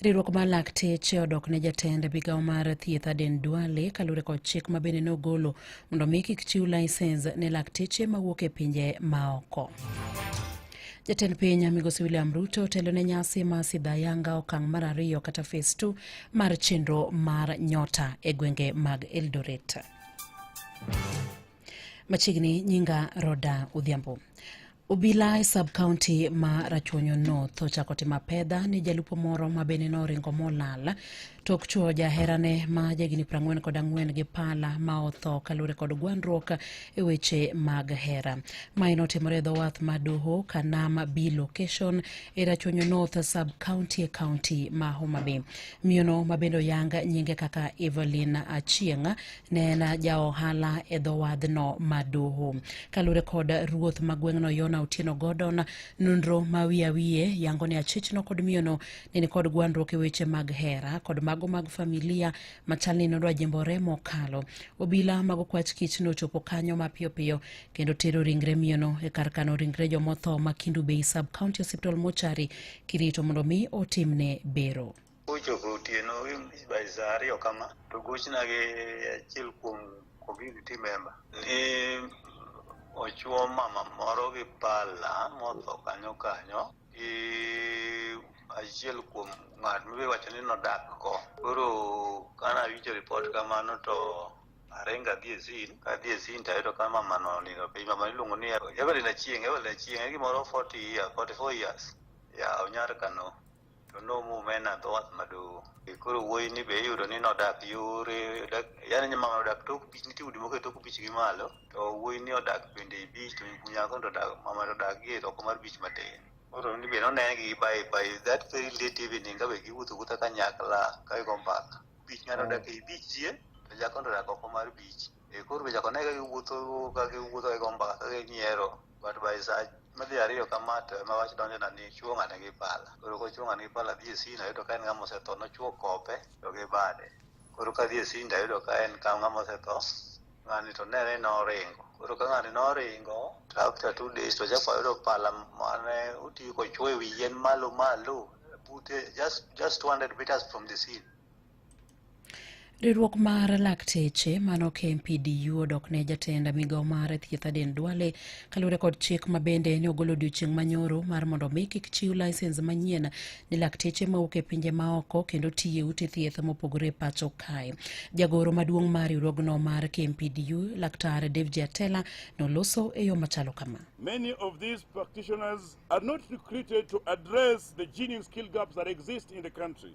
Riwruok mar lakteche odok ne jatend migawo mar thieth Aden Duale kaluwore kod chik ma bende nogolo mondo mi kik chiw laisens ne lakteche mawuok e pinje maoko. Jatend piny Migosi William Ruto otelo ne nyasi ma sidha yanga okang' mar ariyo kata fes 2 mar chenro mar nyota e gwenge mag Eldoret. Machiegni nyinga Roda Odhiambo. Obila e sub county ma Rachuonyo North ochako timo apedha ni jalupo moro ma bende noringo molal tok chuo jaherane ma jagini prang'wen kod ang'wen gi pala ma otho kaluwore kod gwandruok e weche mag hera. Mae notimore e dhowath ma Doho Kanam B location e Rachuonyo North sub county e county ma Homa Bay. Miyono ma bende oyang nyinge kaka Evelyn Achieng' ne en ja ohala e dho wadhno ma doho kalure kod ruoth ma gweng'no yona otieno godon nonro ma wiye wiye yango ni achichno kod miyono ne ni kod gwandruok e weche mag hera kod mago mag familia machal ni nodwa jimbore mokalo obila mag okwach kich nochopo kanyo mapiyo piyo kendo tero ringre miyono e kar kano ringre jomotho ma kindu bay sub county hospital mochari kirito mondo mi otimne bero Ochopo otieno by saa ariyo kama to gochna gi achiel kuom community member ni ochuo mama moro gi pala motho kanyo kanyo gi achiel kuom ng'at miwacho ni nodak ko koro kane awinjo ripot kamano to arenga dhi e zin kadhi e zin tayudo ka mama no nindo piny mama iluongo ni Evelyn Achieng Evelyn Achieng e gimoro 40 years 44 years ya onyar kano to nomume na dho wath maduong' E koro wuoyi ni be iyudo ni nodak yore dak- yaani nyamama odak tok bich nitie udi moko e tok bich gi malo to wuoyi ni odak bende e bich to nyako to odak mama to odak gi e oko mar bich matin koro ni be nonene gi by by that very late evening ka be giwuotho wuotha kanyakla ka gigo mbaka bich ng'ato odak e bich chien to nyako to odak oko mar bich Eh, koro be chako ne ka giwuotho ka giwuotho ka gigo mbaka ka ginyiero but by sa madhi ariyo kama to ema wach donjo na ni chuo ng'ane gi pala koro kochuo ng'ane gi pala dhi e sina yudo ka en ng'ama osetho nochuo kope to gi bade koro ka dhi e sinda yudo ka en ka ng'ama osetho ng'ani to nene noringo koro ka ng'ani noringo to after two days to chako yudo pala mane otiyo kochuo e wi yien malo malo bute just just 200 meters from the scene Riwruok mar lakteche mano KMPDU odok ne jatend migao mar thieth Aden Duale kaluwore kod chik ma bende ne ogolo odiochieng' manyoro mar mondo mi kik chiw lisens manyien ne lakteche mawuok e pinje maoko kendo tiye ute thieth mopogore pacho kae. Jagoro maduong' mar riwruogno mar KMPDU Laktar David Atela noloso e yo machalo kama. Many of these practitioners are not recruited to address the genuine skill gaps that exist in the country.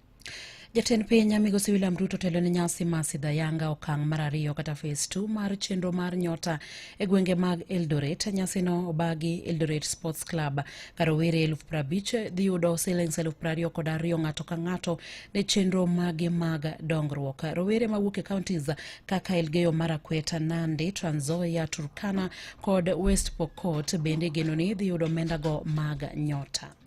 Jatend piny migosi William Ruto telo ne nyasi ma sidha yanga okang' mar ariyo kata phase 2 mar chenro mar nyota e gwenge mag Eldoret. Nyasino obagi Eldoret Sports Club ka rowere eluf prabich dhi yudo silings eluf prariyo kod ariyo ng'ato ka ng'ato ne chenro mage mag dongruok. Rowere mawuok e counties kaka Elgeyo Marakwet, Nandi, Trans Nzoia, Turkana kod West Pokot bende geno ni dhi yudo omendago mag nyota.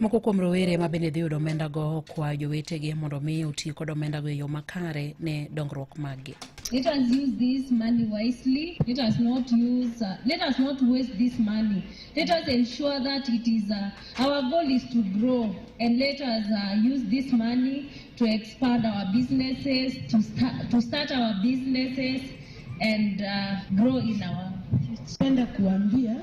Moko kuom rowere ma bende dhi yudo omendago okwayo jowetegi mondo mi oti kod omendago e yo makare ne dongruok maggi. Let us use this money wisely. Let us not use. Uh, let us not waste this money. Let us ensure that it is. Uh, our goal is to grow, and let us uh, use this money to expand our businesses, to start to start our businesses, and uh, grow in our. Penda kuambia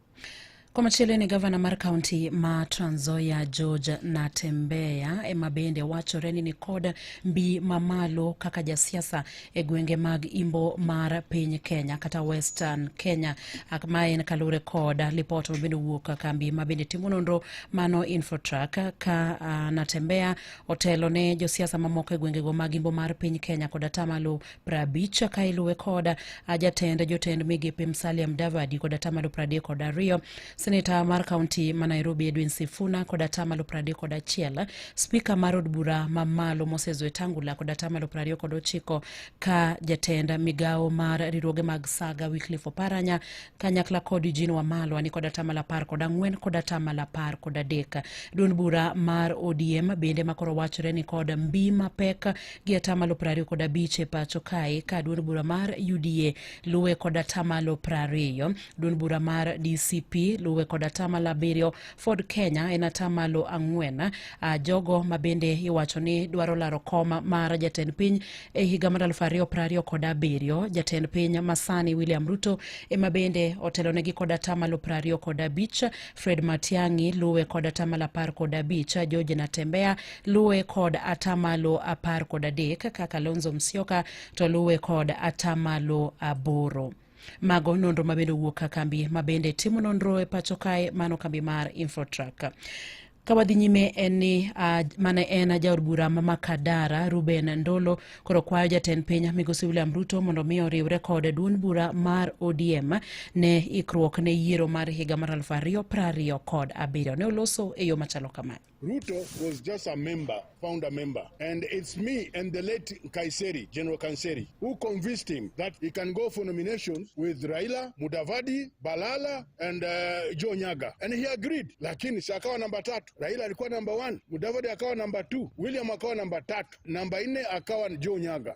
Komachielo ni gavana mar kaunti ma Trans Nzoia George Natembeya ema bende wachore ni nikod mbi mamalo kaka jasiasa e gwenge mag imbo mar piny Kenya kata Western Kenya ma en kalure kod lipot ma bende owuok kambi ma bende timo nonro mano Infotrak ka uh, Natembeya otelo ne josiasa mamoko e gwengego mag imbo mar piny Kenya kod atamalo prabich ka iluwe kod jatend jotend migepe Musalia Mudavadi kod atamalo pradek kod ariyo, seneta mar kaunti ma Nairobi Edwin Sifuna kod atamalo pradek kod achiel, spika mar od bura ma malo Moses Wetangula kod atamalo prariyo kod ochiko ka jatend migawo mar riwruoge mag saga Wycliffe Oparanya kanyakla kod Eugene Wamalwa ni kod atamalo apar kod ang'wen kod atamalo apar kod adek. Duond bura mar ODM bende makoro wachore ni kod mbi mapek gi atamalo prariyo kod abich e pacho kae ka duond bura mar UDA luwe kod atamalo prariyo. Duond bura mar DCP luwe kod atamalo abiriyo. Ford Kenya en atamalo ang'wen. Ah, jogo ma bende iwacho ni dwaro laro kom mar jatend piny e higa mar aluf ariyo prariyo kod abiriyo. Jatend piny masani William Ruto ema bende otelonegi kod atamalo prariyo kod abich. Fred Matiang'i luwe kod atamalo apar kod abich. George Natembeya luwe kod atamalo apar kod adek ka Kalonzo Musyoka to luwe kod atamalo aboro. Mago nonro ma bende owuok ka kambi ma bende timo nonro e pacho kae mano kambi mar Infotrak. Ka wadhi nyime en ni uh, mane en jaod bura ma Makadara Ruben Ndolo koro kwayo jatend piny Migosi William Ruto mondo mi oriwre kod duond bura mar ODM ne ikruok ne yiero mar higa mar aluf ariyo prariyo kod abiriyo ne oloso e yo machalo kama. Ruto was just a member, founder member. And it's me and the late Kaiseri, General Kaiseri, who convinced him that he can go for nominations with Raila, Mudavadi, Balala, and uh, Joe Nyaga. And he agreed. Lakini si akawa namba tatu. Raila alikuwa namba one, Mudavadi akawa namba two, William akawa namba tatu, namba nne akawa Joe Nyaga.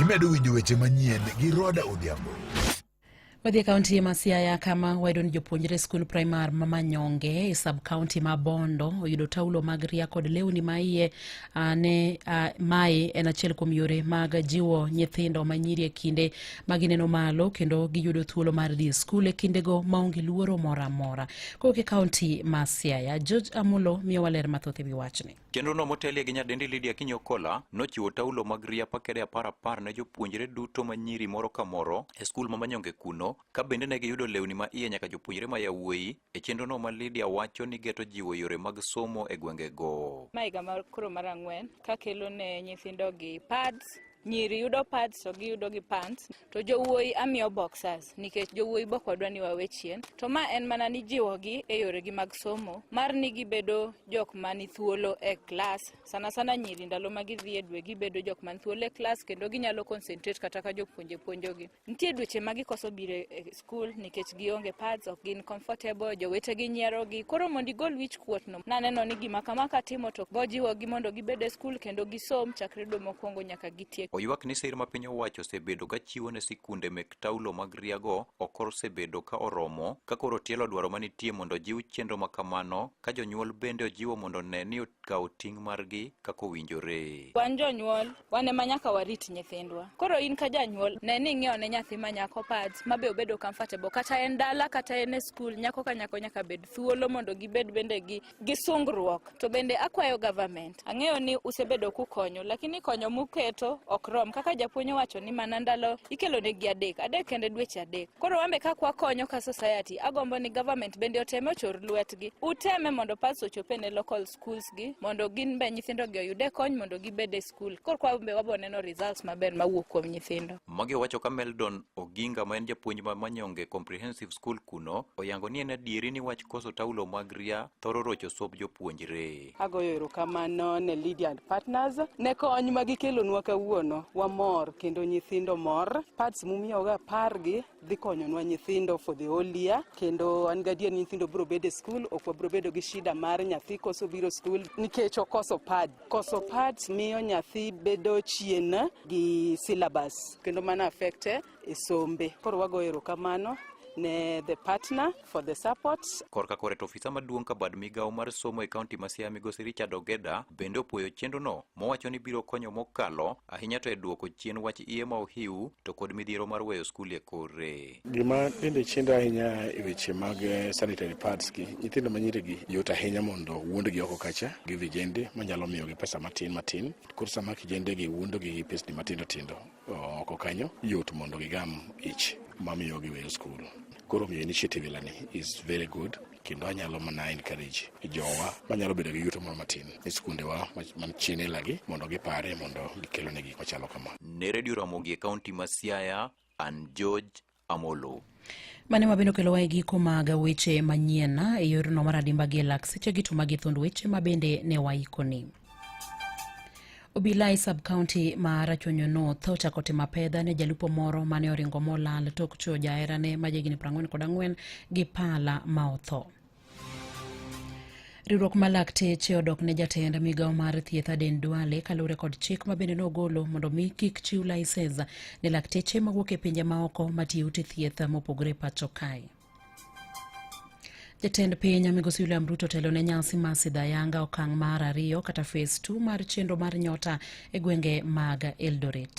Imedo winjo weche manyien gi Roda Odhiambo. Wadhi e kaunti ma Siaya kama wayudo ni jopuonjre skul primar ma Manyonge e sub kaunti ma Bondo oyudo taulo mag ria kod lewni ma iye ne mae en achiel kuom yore mag jiwo nyithindo manyiri e kinde ma gineno malo kendo giyudo thuolo mar dhi e skul e kindego maonge luoro moro amora kowuok e kaonti ma siaya george amulo miyo waler mathoth e wi wachni chenrono motelie gi nyadendi lidia kinyokola nochiwo taulo mag ria pakede apar apar ne jopuonjre duto ma nyiri moro ka moro e skul ma manyonge kuno ka bende ne giyudo lewni ma iye nyaka jopuonjre ma yawuoyi e chenrono ma lidia wacho ni geto jiwo yore mag somo e gwengego ma higa koro mar ang'wen ka kelo ne nyithindogi pads Nyiri yudo pads to giyudo gi pants to jowuoyi amiyo boxers nikech jowuoyi bok wadwa ni wawe chien. To ma en mana ni jiwogi e yoregi mag somo mar ni gibedo jok mani thuolo e klas. Sana sana nyiri ndalo ma gidhi e dwe gibedo jok man thuolo e klas kendo ginyalo concentrate kata ka jopuonje puonjogi. Nitie dweche ma gikoso biro e skul nikech gionge pads, ok gin comfortable, jowetegi nyierogi. Koro mondo igol wich kuotno, naneno ni gima kama katimo to bojiwogi mondo gibed e skul kendo gisom chakre dwe mokwongo nyaka gitiek. Oywak ni sir ma piny owacho osebedo ka chiwo ne sikunde mek taulo mag riago ok osebedo ka oromo, ka koro tielo dwaro manitie mondo ojiw chenro ma kamano, ka jonyuol bende ojiwo mondo ne ni okawo ting' margi kaka owinjore. Wan jonyuol, wan ema nyaka warit nyithindwa. Koro in ka janyuol, ne ni ing'iewo ne nyathi ma nyako pads ma be obedo comfortable kata en dala kata en e skul, nyako ka nyako nyaka bed thuolo mondo gibed bende gi, gi sungruok. To bende akwayo government, ang'eyo ni usebedo kukonyo, lakini konyo muketo ok rom. Kaka japuonj owacho ni mana ndalo ikelo ne gi adek, adek kende dweche adek. Koro wan be kaka wakonyo ka society, agombo ni government bende oteme ochor lwetgi. Uteme mondo pads ochop e ne local school. schools gi mondo gin be nyithindo gi oyude kony mondo gibed e skul kor kwa be wabo neno results maber mawuok kuom nyithindo magi owacho ka meldon oginga ma en japuonj ma manyonge comprehensive school kuno oyango ni en adieri ni wach koso taulo mag ria thoro rocho sob jopuonjre agoyo erokamano ne Lydia and Partners ne kony ma gikelonwa kawuono wamor kendo nyithindo mor pads mumiyoga pargi dhi konyonwa nyithindo for the whole year kendo an gadier ni nyithindo biro bedo e skul ok wabiro bedo gi shida mar nyathi koso biro skul nikech okoso pad koso pads miyo nyathi bedo chien gi syllabus kendo mano affecte e sombe koro wago erokamano ne the partner for the support. Korka kore to ofisa maduong' ka bad migawo mar somo e kaunti ma Siaya migosi Richard Ogeda bende opwoyo chenrono mowacho ni biro konyo mokalo ahinya to e duoko chien wach iye ma ohiu to kod midhiero mar weyo skul e kore. Gima bende chendo ahinya e weche mag eh, sanitary pads gi nyithindo ma nyirigi yot ahinya mondo wuondgi oko kacha gi vijende manyalo miyogi pesa matin matin koro sama kijendegi wuondogi gi pesni matindo tindo oko kanyo yot mondo gigam ich mamiyo giweyo skul. Koro miyo initiative ilani is very good kendo anyalo mana encourage jowa manyalo bedo gi yuto moro matin e skundewa man chien ilagi mondo gipare mondo gikelone gik machalo kama. Ne Redio Ramogi e kaunti ma Siaya, an George Amolo. Mane wabende okelowa e giko mag weche manyien e yorno mar adimba gi elak seche gi to magi thund weche ma bende ne waikoni. Obila e sub county ma Rachuonyo North ochako timo apedha ne jalupo moro mane oringo molal tok chuo jaherane ma jahigni 44 gi pala ma otho. riwruok ma lakteche odok ne jatend migawo mar thieth Aden Duale kaluwore kod chik ma bende nogolo mondo mi kik chiw laisens ne lakteche mawuok e pinje maoko matiyo ute thieth mopogore pacho kae. Jatend piny Migosi William Ruto telo ne nyasi ma Sidhayanga okang' mar ariyo kata phase 2 mar chenro mar nyota e gwenge mag Eldoret.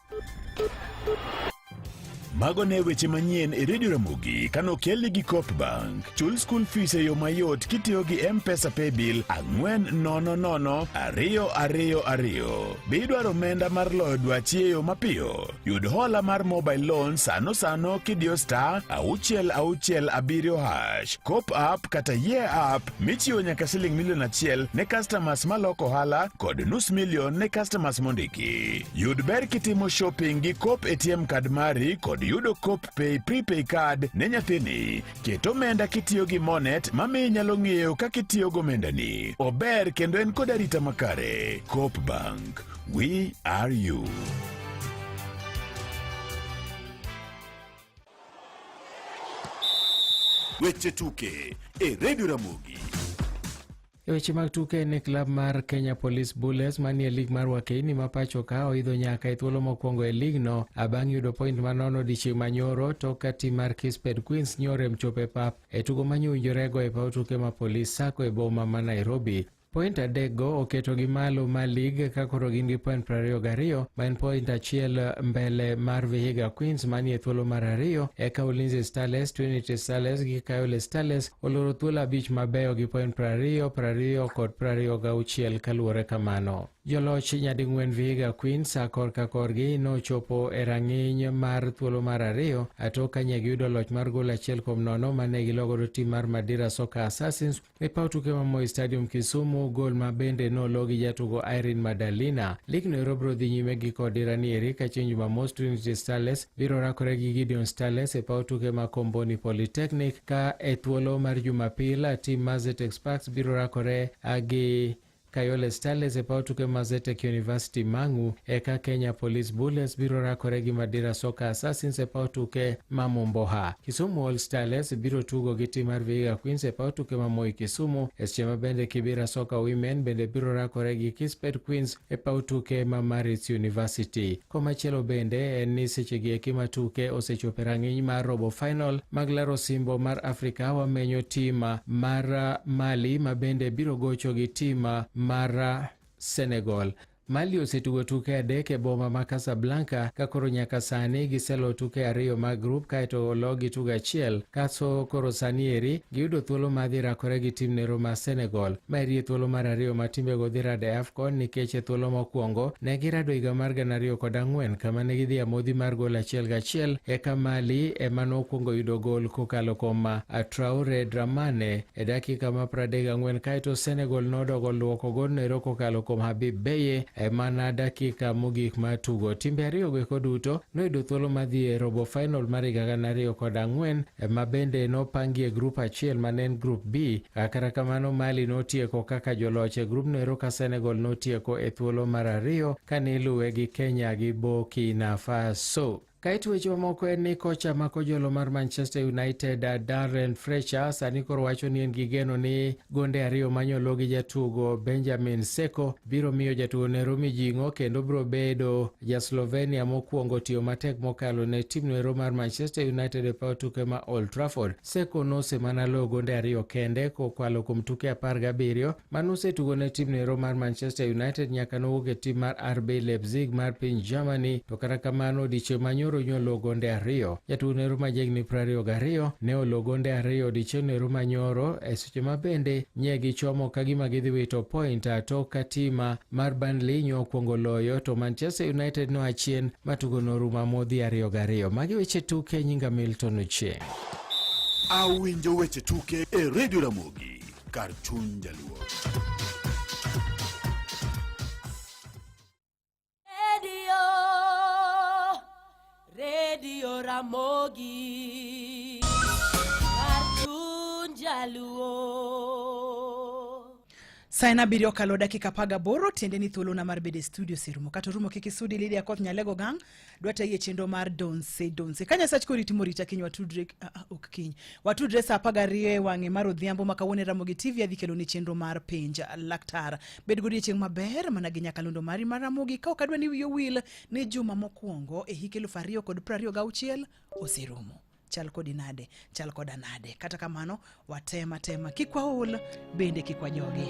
Mago ne weche manyien e redio Ramogi kano kelni gi Coop Bank. Chul school fees e yo mayot kitiyo gi M-Pesa Paybill ang'wen nono nono ariyo ariyo ariyo. Be idwaro omenda mar loyo dwachi e yo mapiyo? Yud hola mar mobile loan sano sano kidiyo star auchiel auchiel abiriyo hash. Coop app kata ye app michiwo nyaka siling milion achiel ne customers maloko ohala kod nus milion ne customers mondiki. Yud ber kitimo shopping gi Coop ATM card mari kod yudo Coop Pay prepay card ne nyathini. Ket omenda kitiyo gi Monet mamiyo inyalo ng'eyo kaka itiyo gi omendani. Ober kendo en kod arita makare. Coop Bank, we are you. Weche tuke e redio Ramogi. E weche mag tuke ne klab mar Kenya Police Bullets manie lig mar Wakeini ma pacho ka oidho nyaka e thuolo mokwongo e ligno abang' yudo point ma nono dichieng' manyoro tok ka tim mar Kisped Queens nyorem chopo e pap e tugo ma nyowinjorego e paw tuke ma Police Sacco e boma ma Nairobi. Point adekgo oketogi malo ma lig ka koro gin gi point prariyo gariyo ma en point achiel mbele mar Vihiga Queens manie thuolo mar ariyo eka Ulinzi Starlets, Trinity Starlets gi Kayole Starlets oloro thuolo abich mabeyo gi point prariyo prariyo kod prariyo gauchiel kaluwore kamano. Joloch nyading'wen Vihiga Queens a korka korgi nochopo e rang'iny mar thuolo mar ariyo atok kanye giyudo loch mar gol achiel kuom nono mane gilogodo tim mar Madira Soccer Assassins E paw tuke ma Moi Stadium Kisumu, gol ma bende nolo gi jatugo Irene Madalina. Lig no ero biro dhi nyime gi kod dirani eri ka chieng' Jumamos Trinity Starlets biro rakore gi Gideon Starlets e paw tuke ma Komboni Polytechnic ka e thuolo mar Jumapil tim Mazetex Sparks biro rakore gi Kayole Starlets e paw tuke ma Zetech University Mang'u eka Kenya Police Bullets biro rakore gi Madira Soccer Assassins e paw tuke ma Momboha. Kisumu All Starlets biro tugo gi tim mar Vihiga Queens e paw tuke ma Moi Kisumu, e seche ma bende Kibira Soccer Women bende biro rakore gi Kispet Queens e paw tuke ma Maritz University. Komachielo bende en ni sechegi eki ma tuke osechopo e rang'iny mar robo final mag laro osimbo mar Afrika, wamenyo tim mar Mali ma bende biro gocho gi tim mar Senegal. Mali osetugo tuke adek e boma ma Casablanca ka koro nyaka sani giselo tuke ariyo mag grup kaeto ologi tugo achiel kaso koro sani eri Giyudo thuolo mar dhi rakore gi tim nero mar Senegal. Ma eri e thuolo mar ariyo ma timbego dhi rado e AFCON nikech e thuolo mokwongo ne girado higa mar gana ariyo kod ang'wen kama ne gidhi amodhi mar gol achiel gachiel eka Mali ema nokwongo yudo gol kokalo kuom Traore Dramane e dakika ma pradek gang'wen kaeto Senegal nodogo luoko golno ero kokalo kuom Habib Beye e mana dakika mogik mar tugo. Timbe ariyogo eko duto noyudo thuolo mar dhi e robo final mar higa gana ariyo kod ang'wen ma bende nopangi e grup achiel ma ne en grup B. Kata kamano, Mali notieko kaka joloch e grubno ero ka Senegal notieko e thuolo mar ariyo kane iluwe gi Kenya gi Burkina Faso. Kaeto weche mamoko en ni kocha ma kojolo mar Manchester United Darren Fletcher sani koro wacho ni en gi geno ni gonde ariyo manyolo gi jatugo Benjamin Seko biro miyo jatuone Romy Jing'o kendo biro bedo ja Slovenia mokwongo tiyo matek mokalo ne timno ero mar Manchester United e paw tuke ma Old Trafford. Seko nosemana loyo gonde ariyo kende kokwalo kuom tuke apar gabiriyo ma nosetugo ne timno ero mar Manchester United nyaka nowuok e tim mar RB Leipzig mar piny Germany, to kata kamano odiechieng' manyoro nyolo gonde ariyo. Jatuone ero ma jahigni prariyo gariyo ne olo gonde ariyo odiechieng'no ero manyoro e Seche ma bende nye gichomo ka gima gidhi wito point a tok ka tima mar Burnley nyo okwongo loyo to Manchester United noa chien ma tugo noruma modhi ariyo gariyo. Magi weche tuke nyinga Milton Ochieng'. Awinjo weche tuke e Radio Ramogi kar chuny jaluo. Redio, redio Ramogi, Cartoon Jaluo. Saa en abiriyo okalo dakika apar gaboro tiende ni thuolona mar bedo e studio serumo kata orumo kik isudi Lydia Koth Nyalego gang dwata yie chenro mar donse donse ka Nyasach koriti morita kiny watudre ah, ah, ok kiny watudre saa apar gariyo e wang'e mar odhiambo ma kawuono e Ramogi TV adhi keloni chenro mar penj laktar Bed godiechieng' maber mana gi nyakalondo mari mar Ramogi ka ok adwa ni wiyi owil ni juma mokwongo e hik eluf ariyo kod prariyo gauchiel oserumo. Chal kodi nade? Chal koda nade? Kata kamano, watem atema kik waol bende kik wajogi.